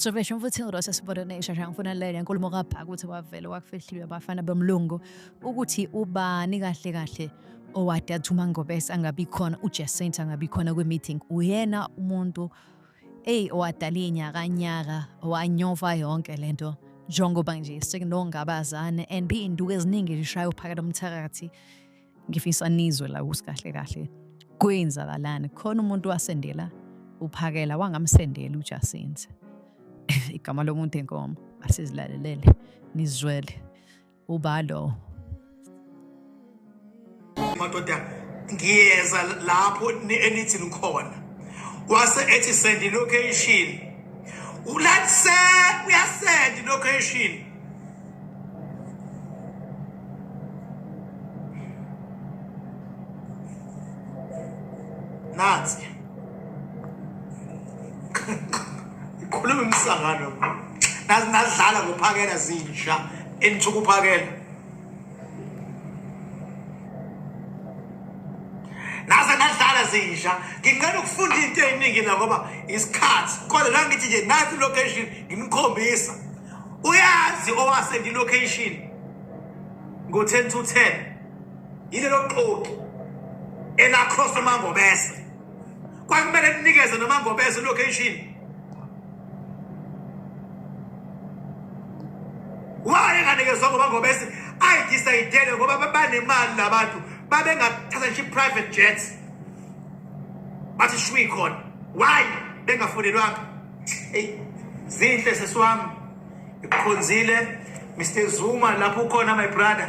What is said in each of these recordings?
Sovesho mfuthi ngirosa sibodonesha shangifuna lele nkulumo kabhaka ukuthi wavele wakufihliwe abafana bomlungu ukuthi ubani kahle kahle owadathi umangobese angabi khona ujacinta angabi khona kwi-meeting uyena umuntu Eyi owadalinya kanyaka wanyova yonke le nto njengoba nje sekunongabazane and iy'nduku eziningi zishaya uphakela umthakathi ngifisa nizwe la ukuthi kahle kahle kwenzakalani khona umuntu wasendela uphakela wangamsendela ujasinze igama lomuntu enkomo asizilalelele nizwele ubalo madoda ngiyeza lapho enithi nikhona wase ethi send location ulatse uyasend location Nazi. ikhuluma imisangano nazi nadlala ngophakela zinja enithuka uphakela naze nadlala zinja nginqena ukufunda into eyiningi la ngoba isikhathi kodwa la ngithi nje nathi location ngimkhombisa uyazi owase ngilocation ngo-10 to 10 yilelo xoki elacross emangobese kwakumele ninikeze noma ngobeza location waye nganikezwa ngoba ngobese ayidisayidele ngoba babanemali labantu babengathatha nje private jets bathi shwi khona why bengafonelwanga eyi zinhle sesiwami ikhonzile mr zuma lapho ukhona my brother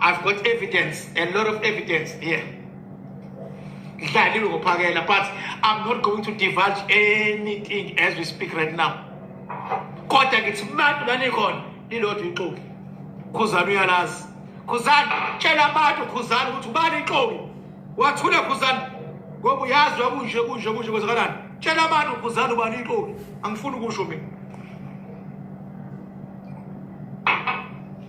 I've got evidence, a lot of evidence here. Ngidlaliwe ngophakela but I'm not going to divulge anything as we speak right now. Kodwa ngithi bantu lanikhona lilodwa ixoki. Khuzani uyalazi. Khuzani tshela abantu khuzani ukuthi ubani ixoki. Wathule khuzani ngoba uyazi wakunje kunje kunje kwenzakalani. Tshela abantu khuzani ubani ixoki. Angifuni ukusho mina.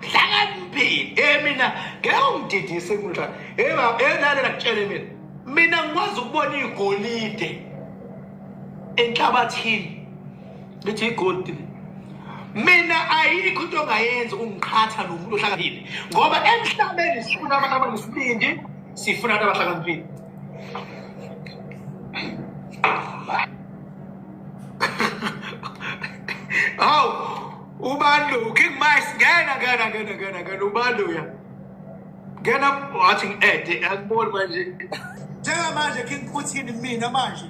hlakaniphile e eh, mina ngeke ungididise mntwana enalela eh, kutshele mina mina ngikwazi ukubona igolide enhlabathini ngithi igolide mina ayikho into ongayenzi ungiqhatha nomuntu ohlakaniphile ngoba emhlabeni sifuna abantu abanesibindi sifuna abantu abahlakaniphile hawu ubani lo king mice ngena ngena ngena ngena ngena ubani loya ngena wathi ngi-ede akuboni manje njengamanje king puthini mina manje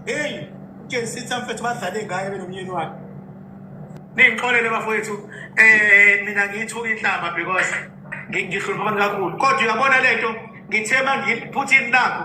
heyi ujesitha mfethu badlale ngaye benomyeni wakhe ningixolele bafowethu um mina ngiyithuka inhlamba because ngihlupha abantu kakhulu kodwa uyabona le nto ngithe uma ngiphutha ini lakho